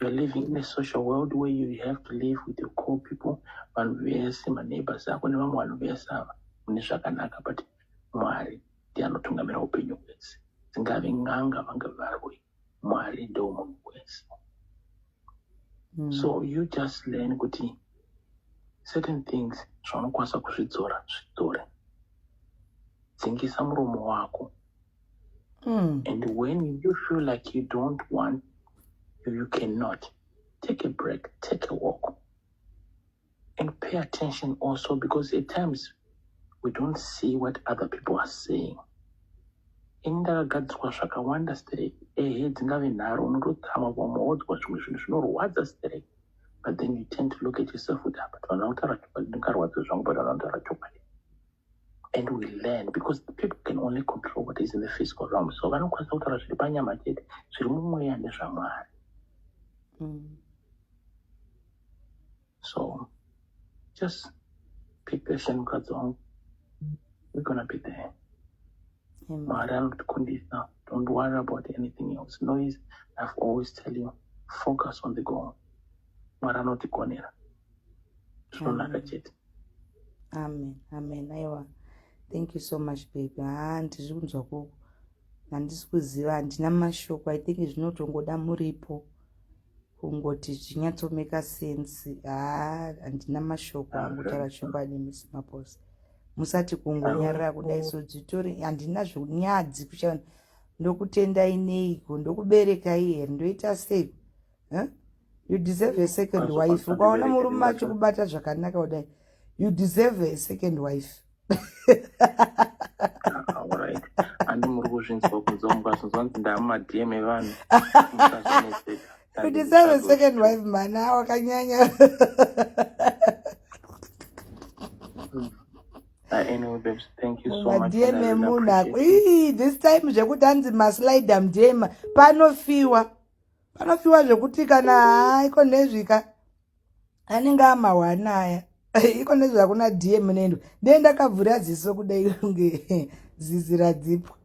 You're living in a social world where you have to live with your core people vanhu vese maneighbors ako nevamwe vanhu vese ava mune zvakanaka but mwari ndiye anotungamira upenyu hwese dzingave n'anga vange varwi mwari ndo munhu wese mm. so you just learn kuti certain things zvaunokwanisa kuzvidzora zvidzore dzingisa muromo wako mm. and when you feel like you don't want you cannot take a break take a walk and pay attention also because at times we don't see what other people are saying ini ndakagadzirwa zvakawanda sterek ehe dzingave nharo unototama vamwe wodzwa zvimwe zvinhu zvinorwadza sterek but then you tend to look at yourself kuti apa ah, tinoda kutaura chokwadi ndingarwadza zvangu but anotaura chokwadi and we learn because the people can only control what is in the physical realm so vanokwanisa kutaura zviri panyama chete zviri mumweya nezvamwari mm. so just be patient mukadzi wangu we're gonna be there mwari anotikundisa don't worry about anything else noise i've always tell you focus on the goal mwari anotigonera zvinonaka chete amen amen aiwa thank you so much baby haa ndizvi kunzwa koko handisi kuziva handina mashoko i think zvinotongoda muripo kungoti zvinyatsomeka sense haa handina mashoko angotaura chokwadi misi maposa musati kungonyarira kudai so dzitori handina zvinyadzi kucha ndokutendai neiko ndokuberekai here ndoita sei huh? you deserve a second wife ukaona murume achikubata zvakanaka kudai you deserve a second wife andi muri kuzvinzwa kunzwa mukazvinzwa kuti ndamumadm evanhu you deserve a second wife mana wakanyanya madm emunhu ako this time zvekuti anzi maslidam dm panofiwa panofiwa zvekuti kana haiko nezvika anenge amahwana aya iko nezve hakuna dm nendo ndee ndakavhura ziso kudai kunge zizi radzipwa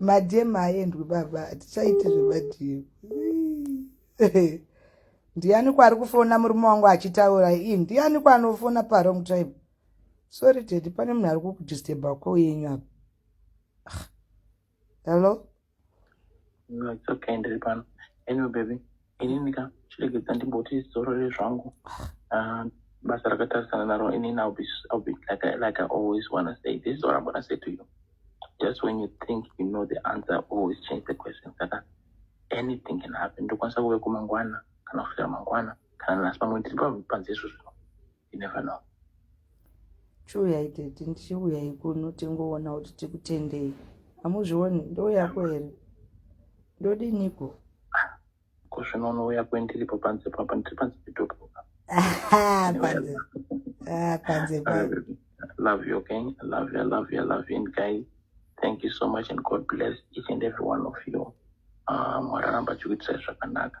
madm aendwi baba hatichaite zvemadm ndiani kwaari kufona murume wangu achitaura ii ndiani kwaanofona parong time sorry tedi pane munhu ari kukudistebha ko yenyu apa hello no it's okay ndiri pano anyway baby inini ka chiregedza ndimboti zorore zvangu ah, basa rakatarisana naro inini i'll be, I'll be like, I, like i always wanna say this is what i'm gonna say to you just when you think you know the answer always change the question saka anything can happen ndokwanisa kuve kumangwana kana kusvira mangwana kana nasi pamwe ndiri panze izvo zvino you never know chiuyai tete ndichiuyai kuno tingoona kuti tikutendei hamuzvioni ndouyako here ndodiniko ko zvino unouya kwendiripo panze papa ndiri panze pedopo panze love you okay i love you i love you i love you and guys thank you so much and god bless each and every one of you ah, mwararamba chikuitisai zvakanaka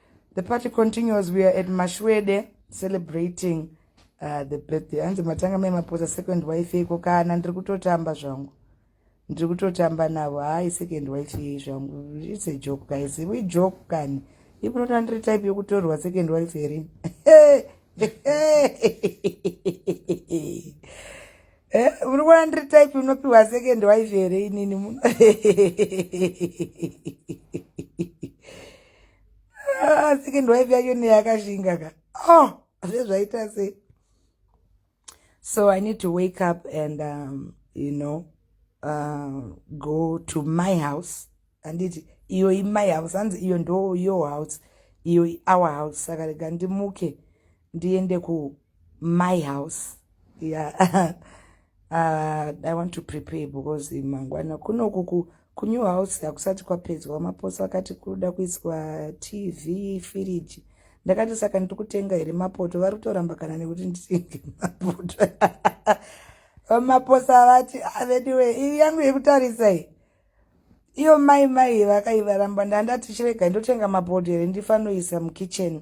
The party continues. We are at Mashwede celebrating uh, the birthday. Hanzi matanga mai maposa second wife yeko kana ndiri kutotamba zvangu. Ndiri kutotamba navo. Hayi second wife yei zvangu. It's a joke guys. We joke kani. Ipo nota ndiri type yokutorwa second wife here. Eh, uri kuona ndiri type unopiwa second wife here inini muno. Ah, second wife yacho neyakashinga ka oh zvezvaita sei so i need to wake up and um, you know uh, go to my house handiti iyo imai house hanzi iyo ndo your house iyo our house saka rega ndimuke ndiende ku my house yeah uh, i want to prepare because mangwana kunokuku kunew house hakusati kwapedzwa maposo akati kuda kuiswa tv firiji ndakati saka ndiri kutenga here mapoto vari kutoramba kana nekuti nditenge mapoto vamaposa vati avediwe ah, iri yangu yekutarisai iyo mai mai vakaivaramba ndandati chirega ndotenga mabhodhi here ndifanoisa mukitchen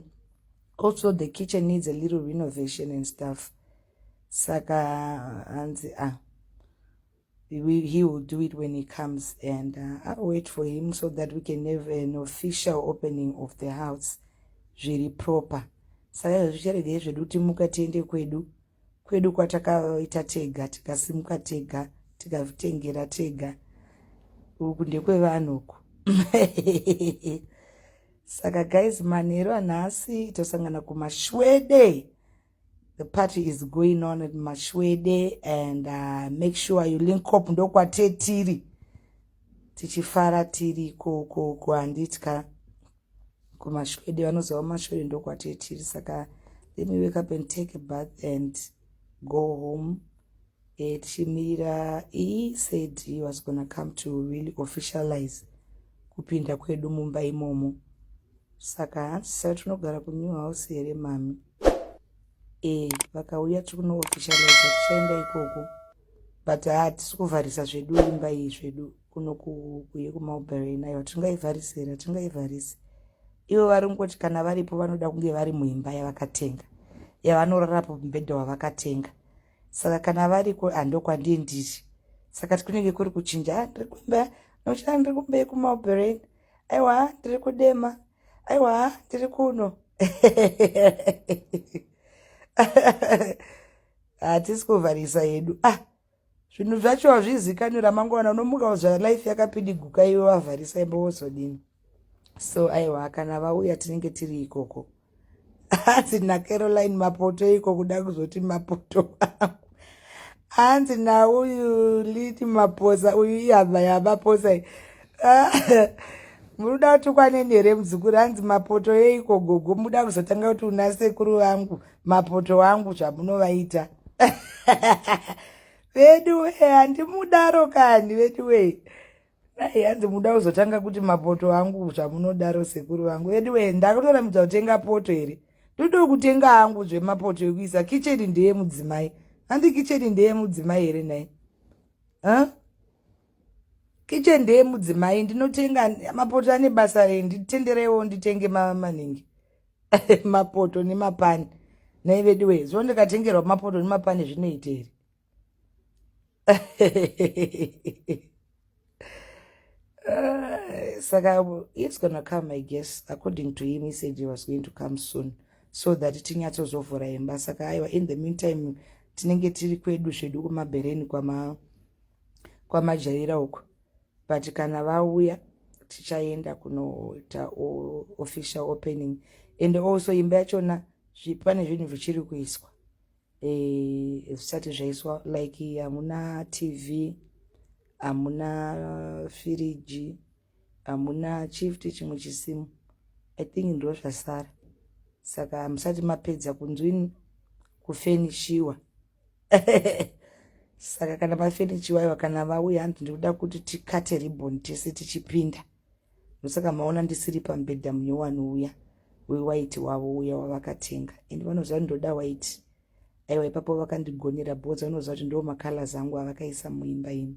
also the kitchen needs a little renovation and stuff saka hanzi ah he will do it when he comes and uh, i'll wait for him so that we can have an official opening of the house zviri proper saka izvo zvicharegei zvedu timuka tiende kwedu kwedu kwatakaita tega tikasimuka tega tikazvitengera tega uku ndekwevanhu uku saka guys manheru anhasi tosangana kumashwede the party is going on at mashwede and uh, make sure you link up ndokwatetiri tichifara tiri kokoko handitya kumashwede vanoziva kumashwede ndokwatiri tiri saka let me wake up and take a bath and go home eh, tichimirira e said he was gonna come to really officialize kupinda kwedu mumba imomo saka hanzi saka tinogara kunew house here mami e vakauya tiri kunoofficialize tichaenda ikoko but hatisi kuvharisa zvedu imba iyi zvedu kuno kuye kumalbury inayo hatingaivarise here hatingaivarise ivo vari kungoti kana varipo vanoda kunge vari muimba yavakatenga yavanorarapo mubhedha wavakatenga saka kana variko handokwandiye ndiri saka kunenge kuri kuchinja ah, ndiri kumba nochina ndiri kumba yekumalbury aiwa ndiri kudema aiwa ndiri kuno hatisi kuvharisa yedu ah zvinhu zvacho hazvizikanwi ramangwana unomuka kuzvara life yakapidiguka iwe wavharisa imba wozodini so aiwa kana vauya tinenge tiri ikoko hanzi nacaroline mapoto iko kuda kuzoti mapoto angu hanzi nauyu liti maposa uyu ihama yamaposa i munoda kutukwaneni here muzukuru hanzi mapoto yeiko gogo muda kuzotanga kuti una sekuru vangu mapoto angu zvamunovaita veduwe handimudaro kani veduwe dai hanzi muda kuzotanga kuti mapoto angu zvamunodaro sekuru vangu veduwe ndakutoramidza kutenga poto here ndodo kutenga angu zvemapoto ekuisa kicheni ndeyemudzimai handi kicheni ndeyemudzimai here nhai huh? Kitchen ndeye mudzimai ndinotenga mapoto ane basa rei nditendereiwo nditenge maningi mapoto nemapani nei veduwe zuva ndikatengerwa mapoto nemapani zvinoiteri eh, saka it's gonna come i guess according to him he said he was going to come soon so that tinyatsozovhura imba saka aiwa in the meantime tinenge tiri kwedu zvedu kumabhereni kwama kwamajaira uko but kana vauya tichaenda kunoita official opening and also imba yachona pane zvinhu zvichiri kuiswa eh, zvisati zvaiswa like hamuna tv hamuna firiji hamuna chifti chimwe chisimu i think ndo zvasara saka hamusati mapedza kunzwini kufenishiwa saka kana mafenichi wayo kana vauya hanzi ndikuda kuti tikate ribon tese tichipinda ndosaka maona ndisiri pamubhedha mune wanouya wewaiti wavo uya wavakatenga and vanoziva kuti ndoda waiti aiwa ipapo vakandigonera bhoza vanoziva kuti ndoo macolors angu avakaisa muimba ino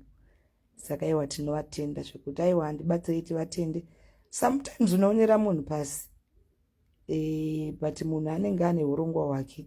saka aiwa tinovatenda zvekuti aiwa handibatsirei tivatende sometimes unoonera munhu pasi e, but munhu anenge ane urongwa hwake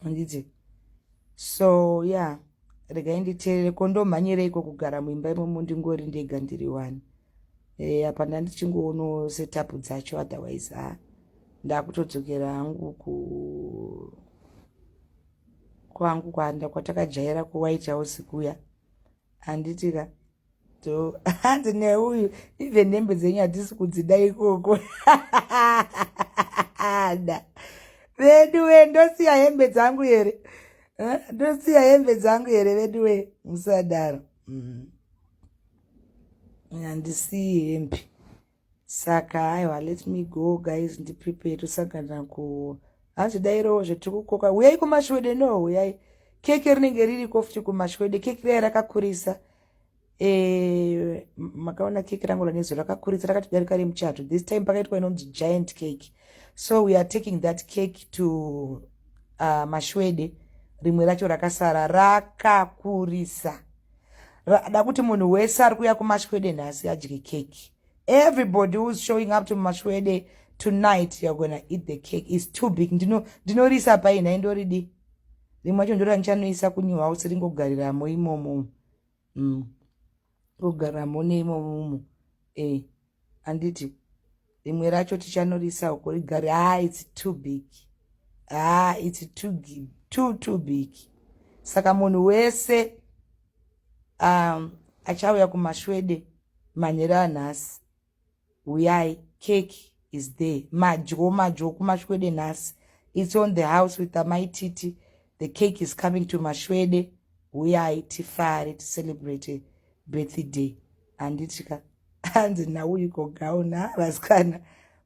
handiti so ya yeah. regai nditeerere ko ndomhanyireiko kugara muimba imomo ndingori ndega ndiri wani eh, apa e, ndandichingoonoo setapu dzacho otherwise ha ndakutodzokera hangu ku kwangu kwanda kwatakajaira kuwaitawo sikuya handiti ka hanzi neuyu even nembe dzenyu hatisi kudzida ikoko da veduwe ndosiya hembe dzangu here ndosiya hembe dzangu here veduwe musadaro mm. handisiyi hembe saka haiwa let me go guys ndiprepare tosangana ku hazvidairowo zvetiri kukoka huyai kumashwede no huyai keke rinenge ririko futi kumashwede keke riya rakakurisa e, makaona keke rangu ranezo rakakurisa rakatodarika remuchato this time pakaitwa inonzi giant cake so we are taking that cake to uh, mashwede rimwe racho rakasara rakakurisa Rada kuti munhu wese ari kuya kumashwede nhasi adye keki. Everybody who's showing up to mashwede tonight you're gonna eat the cake. It's too big. Ndino ndinorisa pai nhai ndoridi. Rimwe chacho ndora ndichanoisa kunew house ringogariramo imomo. Mm. Kugariramo neimomo. Eh. anditi rimwe racho tichanorisa uko rigari ha ah, its too big ha ah, its too, too, too big saka munhu wese um, achauya kumashwede manhero anhasi uyai cake is there madyo madyo kumashwede nhasi its on the house with amai titi the cake is coming to mashwede uyai tifare ticelebrate birthday handitika hanzi nauyiko gauna ah, vasikana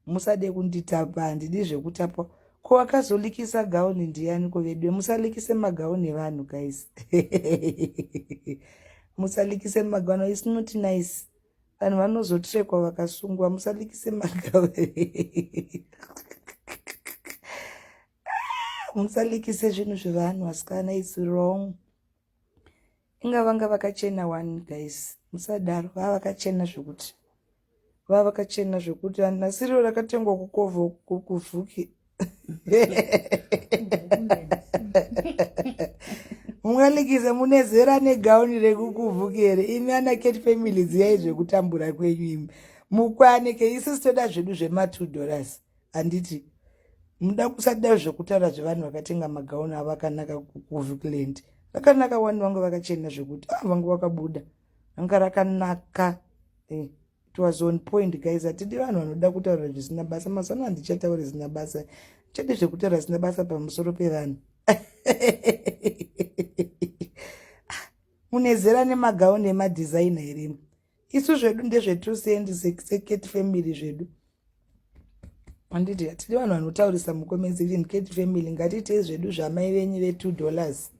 musade kunditapa handidi zvekutapwa ko wakazolikisa gauni ndiyani ko vedwe musalikise magauni evanhu guys musalikise magauni is not nice vanhu vanozotrekwa vakasungwa musalikise magauni musalikise zvinhu zvevanhu vasikana is wrong inga vanga vakachena one guys musadaro vava vakachena zvekuti vava vakachena zvekuti nasiriro rakatengwa kukovo kuvhuki mungalikize mune zera negauni rekukuvhuki here imi ana cat family dziyai zvekutambura kwenyu imi mukwanike isu sitoda zvedu zvema two dollars handiti muda kusada zvekutaura zvevanhu vakatenga magauni avo akanaka kuvicland rakanaka wani vange vakachena zvekuti ah vange vakabuda ranga rakanaka eh, it was on point guys hatidi vanhu vanoda kutaura zvisina basa mazano handichataura zvisina basa chete zvekutaura zvisina basa pamusoro pevanhu mune zera nemagauni emadhizaina here isu zvedu ndezvetu sendi seketi family zvedu anditi hatidi vanhu vanotaurisa mukomenzi kuti ndiketi family ngatiitei zvedu zvamai venyu ve2 dollars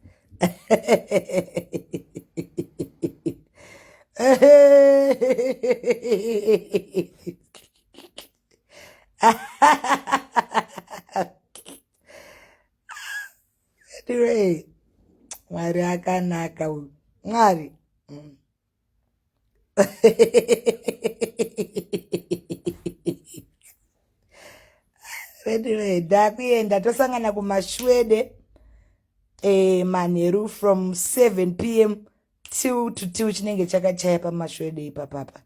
anyway mwari akanaka uyu mwari mm. veduve ndakuenda tosangana kumashwede e, manheru from 7 p m till to till chinenge chakachaya pamashwede ipapapa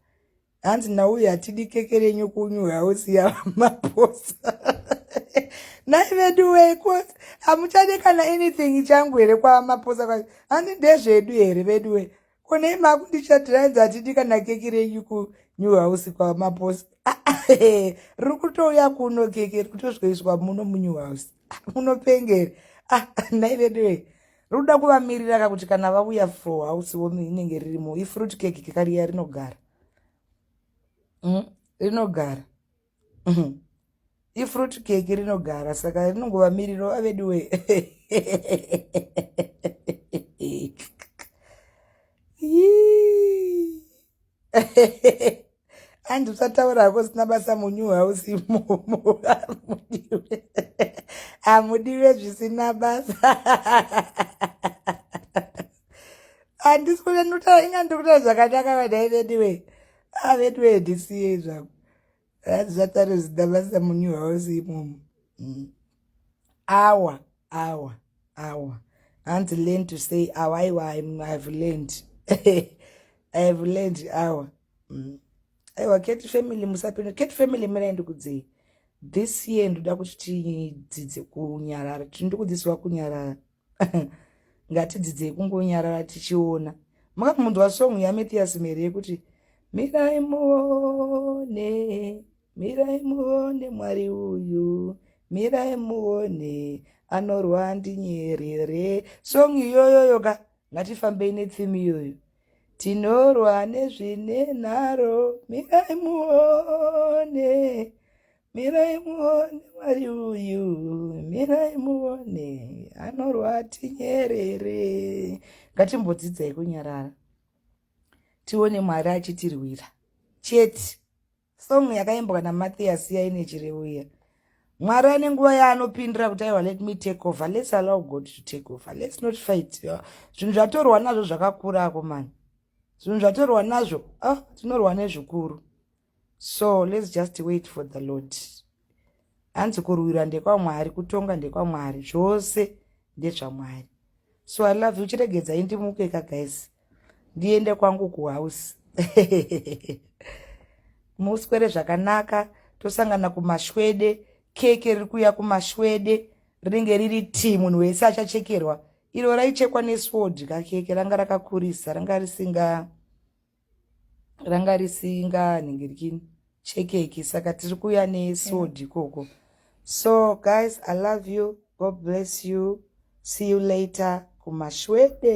hanzi nauyu hatidi keke renyu kunyu hausi yamaposa nai vedu weko hamuchade kana anything changu here kwamaposa kwa hanzi ndezvedu here vedu we konei makundichatira hanzi hatidi kana keki renyu kunew house kwamaposa riri kutouya kuno keke riri kutosvikaiswa muno munew house munopengere ah, nai vedu we rinoda kuvamirira ka kuti kana vauya for house womi inenge ririmo ifruit cake kekariya rinogara mm, rinogara mm. ifruit cake rinogara saka rinongovamiriro aveduwe andi usataura hako usina basa munyu house imomo hamudiwe zvisina basa handisi kuve ndikutaura inga ndiri kutaura zvakanaka vadaivediwe aveduwe ah, ndisiye izvako zvakare zidavasa munew house imomo mm. awa awa awa hanzi learn to say awa aiwa ihave learned ihave learned awa mm. aiwa cat family musapinda cat family miraendi kudzei this year ndoda kuti tidzidze kunyarara tiri ndikudzidziswa kunyarara ngatidzidzei kungonyarara tichiona makamunzwa song yamethias mhere yekuti mirai muone mirai muone mwari uyu mirai muone anorwa ndinyerere song iyoyoyo ka ngatifambei nethim iyoyo tinorwa nezvine nharo mirai muone Mirai muone Mwari uyu, mirai muone, anorwa tinyerere. Ngatimbodzidzai kunyarara, tione Mwari achitirwira chete. Song yakaimbwa naMathias iya ine chirevo iya. Mwari ane nguva yaanopindira kuti aiwa let me take over, let's allow God to take over, let's not fight. Zvinhu zvatorwa nazvo zvakakura ako mani, zvinhu zvatorwa nazvo, ah, tinorwa nezvikuru. so let's just wait for the lord hanzi kurwira ndekwamwari kutonga ndekwamwari zvose ndezvamwari so i love you chiregedzai ndimuke ka guys ndiende kwangu kuhouse muswere zvakanaka tosangana kumashwede keke riri kuuya kumashwede rinenge riri ti munhu wese achachekerwa iro raichekwa neswod kakeke ranga rakakurisa ranga risinga ranga risinga nhingirini chekeki saka tiri kuuya nesword mm. ikoko so guys i love you god bless you see you later kumashwede